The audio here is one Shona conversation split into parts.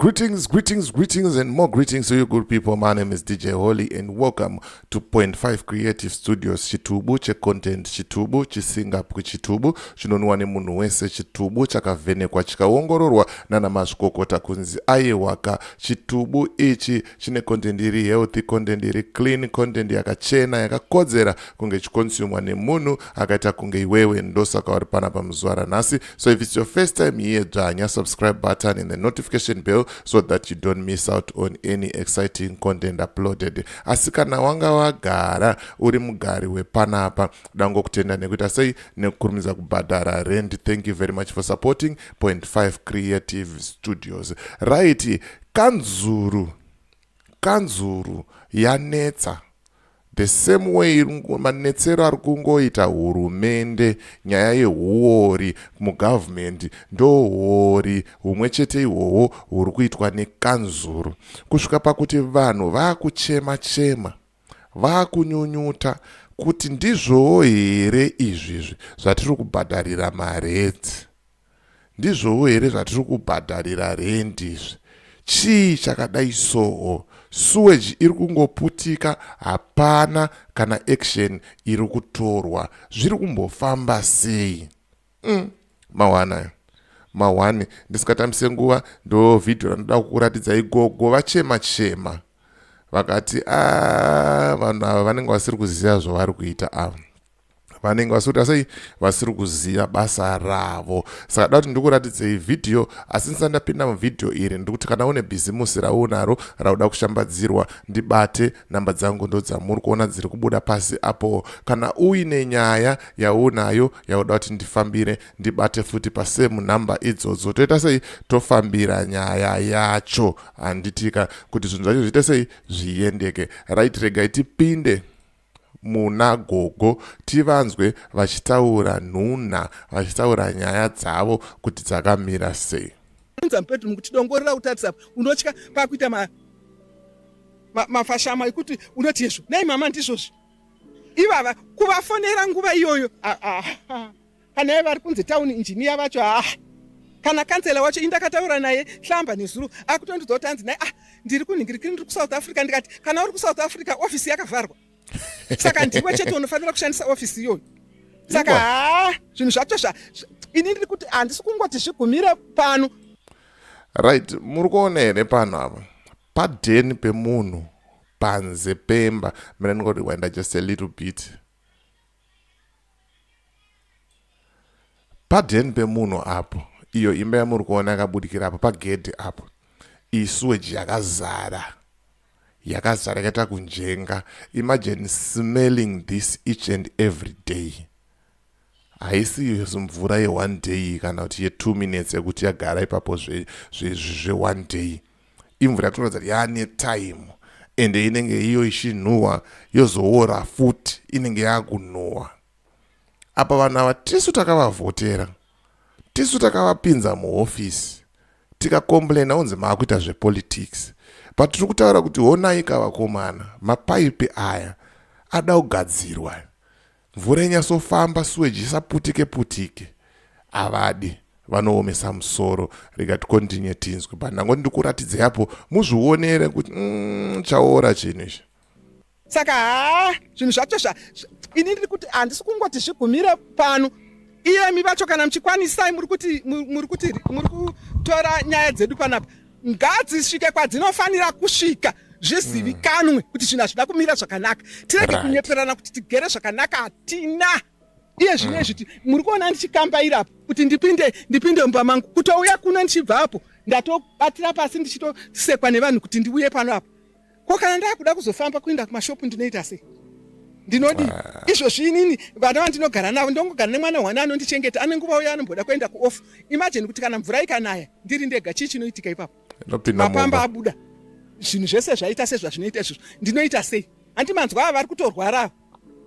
Greetings, greetings, greetings, and more greetings to you, good people. My name is DJ Holy, and welcome to Point Five Creative Studios. Chitubu che content chitubu chisinga chitubu chinonwa nemunhu wese chitubu chakavhenekwa chikaongororwa nana mazvikokota kunzi aiwaka chitubu ichi chine content iri healthy content iri clean content yakachena yakakodzera kunge ichikonsumwa nemunhu akaita kunge iwewe ndosaka uri pana pamuzuva ranhasi so if it's your first time here dzvanya subscribe button and the notification bell so that you don't miss out on any exciting content uploaded asi kana wanga wagara uri mugari wepanapa dangokutenda nekuita sei nekukurumidza kubhadhara rent thank you very much for supporting point 5 creative studios right Kanzuru kanzuru yanetsa the same way manetsero ari kungoita hurumende nyaya yehuori mugovernment ndohuori humwe chete ihwohwo huri kuitwa nekanzuru kusvika pakuti vanhu vaakuchema chema vaakunyunyuta kuti ndizvowo here izvizvi zvatiri kubhadharira maredzi Ndizvowo here zvatiri kubhadharira rent izvi? Chii chakadai soo? Sewage iri kungoputika hapana kana action iri kutorwa. Zviri kumbofamba sei? Umm mahwani ayo. Mahwani ndisingatambise nguva ndo video randinoda kukuratidzai gogo vachema chema. Vakati ah vanhu ava vanenge vasiri kuziva zvavari kuita ava. vanenge vasikuita sei vasiri kuziva basa ravo saka da kuti ndiri kuratidzei vhidhiyo asi ndisati ndapinda muvhidhiyo iri ndiri kuti kana une bhizimusi raunaro rauda kushambadzirwa ndibate nhamba dzangu ndo dzamuri kuona dziri kubuda pasi apo kana uine nyaya yaunayo yauda kuti ndifambire ndibate futi pasemu nhamba idzodzo toita sei tofambira nyaya yacho handitika kuti zvinhu zvacho zviite sei zviendeke right regai tipinde muna gogo tivanzwe vachitaura nhunha vachitaura nyaya dzavo kuti dzakamira sei unza mupedrum kuti dongorera kutarisa unotya pakuita ma, ma, mafashama ekuti unoti hezvo nei mama ndizvozvi ivava kuvafonera nguva iyoyo ah, ah, ah. kana iye vari kunzi town engineer vacho haa kana kansela wacho indakataura naye hlamba nezuro akutondiudza kuti anzi naye ah ndiri kunhingirikiri ndiri kusouth africa ndikati kana uri kusouth africa ofisi yakavharwa saka ndiwe chete unofanira kushandisa ofisi iyoyo saka haa zvinhu zvacho zva ini ndiri kuti handisi kungoti zvigumire pano right muri kuona here pano apa padheni pemunhu panze pemba mina ndingoti waenda just a little bit Paden pemunhu apo, iyo imba yamuri kuona yakabudikira apo pagedhi apo, iyi suweji yakazara, yakazara yakaita kunjenga. Imagine smelling this each and every day. Haisi mvura ye one day kana kuti ye two minutes yekuti yagara ipapo zve, zve, zve one day. imvura yatinoratidza kuti yaane time ende inenge iyo ichinhuhwa yozoora futi inenge yaakunhuhwa apa vanhu ava tisu takavavhotera tisu takavapinza muhofisi tikakomplaina unzi maakuita zvepolitics but tiri kutaura kuti honai kavakomana mapaipi aya ada kugadzirwa Mvura inyatsofamba sewage isaputike putike avadi vanoomesa musoro rega tikontinye tinzwe but ndangoti ndikuratidze apo muzvionere kuti mm, chaora chinhu izvi saka haa zvinhu zvacho zva ini ndiri kuti handisi kungoti zvigumire pano iyemi vacho kana muchikwanisai muri kuti muri kuti muri kutora nyaya dzedu panapa ngadzisvike kwadzinofanira kusvika zvizivikanwe mm. kuti zvinhu hazvida kumira zvakanaka tirege kunyeperana kuti tigere zvakanaka hatina iye zvino izviti mm. muri kuona ndichikambaira apo kuti ndipinde ndipinde mumba mangu kutouya kuno ndichibva apo ndatobatira pasi ndichitosekwa nevanhu kuti ndiuye pano apo ko kana ndakuda kuzofamba kuenda kumashopu ndinoita sei ndinodi ah. izvozvi inini vana vandinogara navo ndongogara nemwana wane anondichengeta ane nguva uya anomboda kuenda kuoff imajini kuti kana mvura ikanaya ndiri ndega chii chinoitika ipapo mapamba abuda zvinhu zvese zvaita sezvazvinoita izvozvo ndinoita sei handi manzwa ava vari kutorwara ava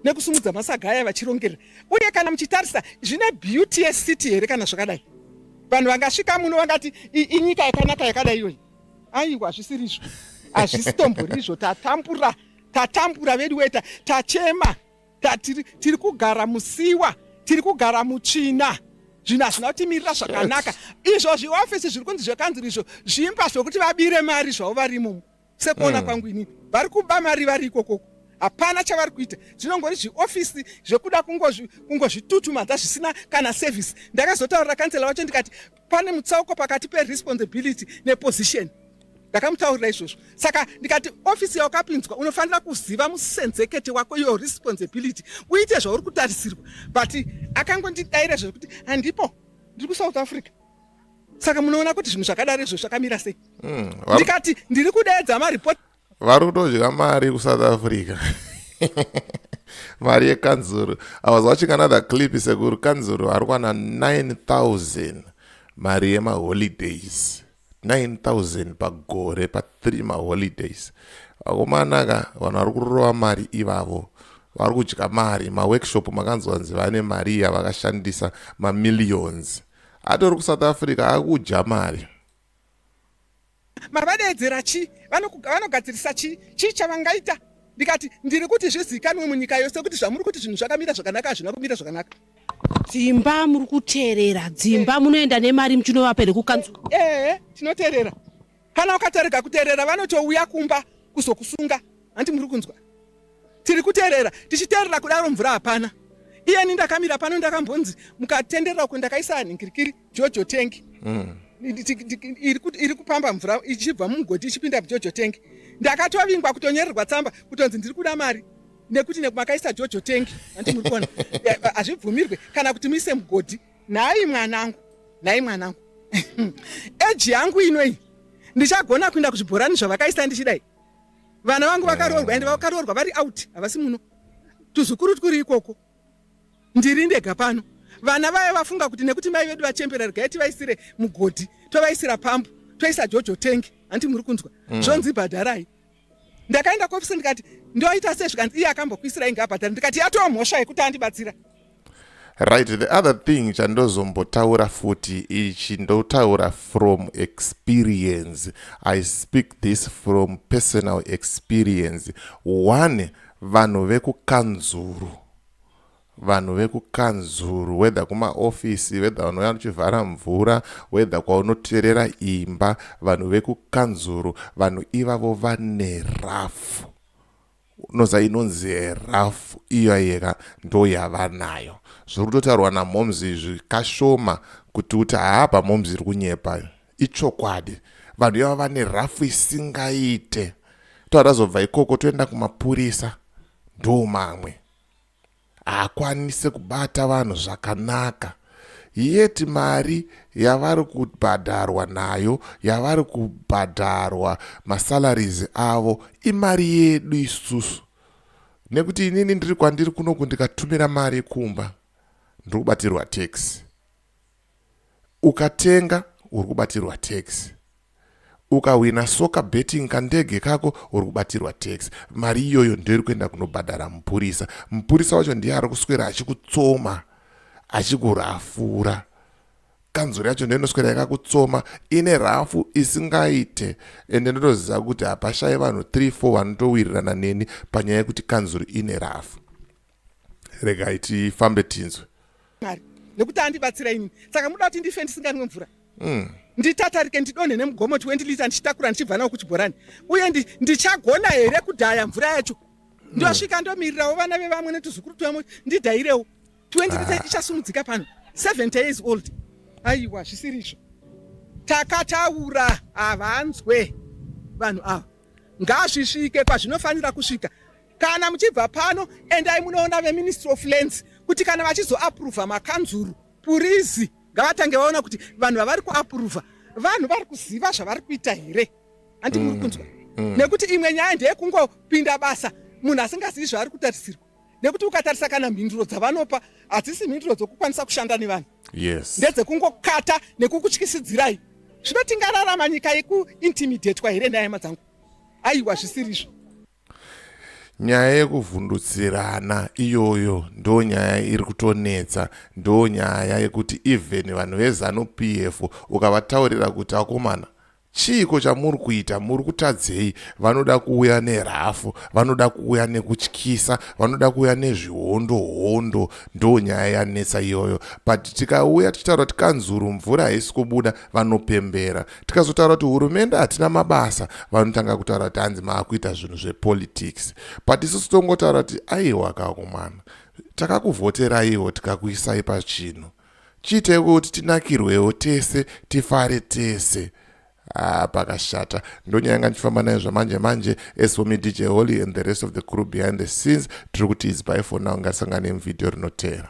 nekusumudza masaga aya vachirongerera uye kana muchitarisa zvine beauty yecity here kana zvakadai vanhu vangasvika muno vangati inyika yakanaka yakadai iyoyi aiwa hazvisirizvo hazvisitomborizvo tatambura tatambura vedu weta tachema tatiri tiri kugara musiwa tiri kugara mutsvina zvinhu hazvina kutimirira zvakanaka izvo zviofisi zviri kunzi zvekanziri izvo zvimba zvokuti vabire mari zvavo varimo sekuona hmm. kwangu inini vari kuba mari vari ikokoko hapana chavari kuita zvinongori zviofisi zvekuda kungozvitutumadza zvisina kana sevhisi ndakazotaurira kansela vacho ndikati Pane mutsauko pakati peresponsibility neposition. Ndakamutaurira izvozvo. Saka ndikati ofisi yawakapinzwa unofanira kuziva musenzekete wako your responsibility uite zvauri kutarisirwa. But akangondidaira zvekuti handipo ndiri kuSouth Africa. Saka munoona kuti zvinhu zvakadaro izvo zvakamira sei? Mm, ndikati ndiri kudeedza mareport vari kutodya mari kusouth africa mari yekanzuru i was watching another clip sekuru kanzuru ari kwana 9000 mari yemaholidays 9000 pagore pa 3 maholidays vakomana ka vanhu vari kurova mari ivavo vari kudya mari maworkshop makanzwa nzi vane mari iya vakashandisa mamillions atori kusouth africa akudya mari mavadeedzera chii vanogadzirisa chii chii chavangaita ndikati ndiri kuti zvizikanwe munyika yose kuti zvamuri kuti zvinhu zvakamira zvakanaka hazvina kumira zvakanaka dzimba muri kuteerera dzimba eh. munoenda nemari muchinovapa here kukanzu ehe eh, tinoteerera kana ukatarega kuteerera vanotouya kumba kuzokusunga hanti muri kunzwa tiri kuteerera tichiteerera kudaro mvura hapana iyeni ndakamira pano ndakambonzi mukatenderera uko ndakaisa ningirikiri jojo tank mm. iri kupamba mvura ichibva mumugodhi ichipinda mujojo tank ndakatovingwa kutonyorerwa tsamba kutonzi ndiri kuda mari nekuti nekumakaisa jojo tank andi muri kuona hazvibvumirwe kana kuti muise mugodhi nhai mwanangu nhai mwanangu eji yangu inoi ndichagona kuinda kuzvibhorani zvavakaisa ndichidai vana vangu vakaroorwa ende vakaroorwa vari out havasi muno tuzukuru twuri ikoko ndiri ndega pano vana vaye vafunga kuti nekuti mai vedu vachembera regai tivaisire mugodhi tovaisira pambu toisa jojo tengi hanti muri kunzwa mm. zvonzi bhadharai ndakaenda kuofisi ndikati ndoita se zvikanzi iye akambokuisira inge abhadhara ndikati yatoo mhosva yekuti andibatsira right the other thing chandozombotaura futi ichi ndotaura from experience i speak this from personal experience one Vanhu vekukanzuru vanhu vekukanzuru whether kumaofisi whether vanouya vachivhara mvura whether kwaunoterera imba vanhu vekukanzuru vanhu ivavo vane rafu unoza inonzi rafu iyo ayeka ndo yavanayo zviri kutotaurwa namhoms izvi kashoma kuti uti haa pamhoms iri kunyepa Ichokwadi vanhu ivava vane rafu isingaite. Toatazobva ikoko toenda kumapurisa ndo mamwe. Haakwanise kubata vanhu zvakanaka. Yet mari yavari kubhadharwa nayo yavari kubhadharwa masalaries avo imari yedu isusu. Nekuti inini ndiri kwandiri kunoku ndikatumira mari kumba ndiri kubatirwa tax. Ukatenga uri kubatirwa tax. Ukahwina soka betting kandege kako uri kubatirwa tax. Mari iyoyo ndoiri kuenda kunobhadhara mupurisa. Mupurisa wacho ndiye ari kuswera achikutsoma achikurafura. Kanzuru yacho ndiyo inoswera yakakutsoma ine rafu isingaite ende ndotoziva kuti hapashaye vanhu 3 4 vanotowirirana neni panyaya yekuti kanzuru ine rafu. regai tifambe tinzwe mwari nekuti andibatsira ini saka muda kuti ndife ndisinganwe mvura mm. nditatarike ndidonhe nemugomo 20 lita ndichitakura ndichibva nawo kuchibhorani uye ndichagona ndi here kudhaya mvura yacho mm. ndosvika ndomirirawo vana vevamwe netuzukuru twemo ndidhayirewo 20 lita ah. ichasumudzika pano 70 years old aiwa zvisiri izvo takataura havanzwe vanhu ava ngazvisvike kwazvinofanira kusvika Kana muchibva pano endai munoona veministry of lands kuti kana vachizoapruvha makanzuru purizi ngavatange vaona kuti vanhu vavari kuapruvha vanhu vari kuziva zvavari kuita here handi muri mm, kunzwa mm. nekuti imwe nyaya ndeyekungopinda basa munhu asingazivi zvaari kutarisirwa nekuti ukatarisa kana mhinduro dzavanopa hadzisi mhinduro dzokukwanisa kushanda nevanhu yes. ndedzekungokata nekukutyisidzirai zvino tingararama nyika yekuintimidatwa here ndayama dzangu aiwa zvisirizvo Nyaya yekuvhundutsirana iyoyo ndo nyaya iri kutonetsa ndo nyaya yekuti even vanhu vezanu PF ukavataurira kuti akomana chiiko chamuri kuita muri kutadzei vanoda kuuya nerafu vanoda kuuya nekutyisa vanoda kuuya nezvihondo hondo ndo nyaya yanetsa iyoyo but tikauya tichitaura tikanzuru mvura haisi kubuda vanopembera tikazotaura kuti hurumende hatina mabasa vanotanga kutaura kuti hanzi maakuita zvinhu zvepolitics but isusu tongotaura kuti aiwa kakumana takakuvhoteraiwo tikakuisai pachinhu chiitei kuti tinakirwewo tese tifare tese Ah, pakashata ndonyaya yanga ndichifamba nayo zvamanje manje as for me dj holy and the rest of the crew behind the scenes tiri kuti is by for now ngatisangane muvhidhiyo rinotera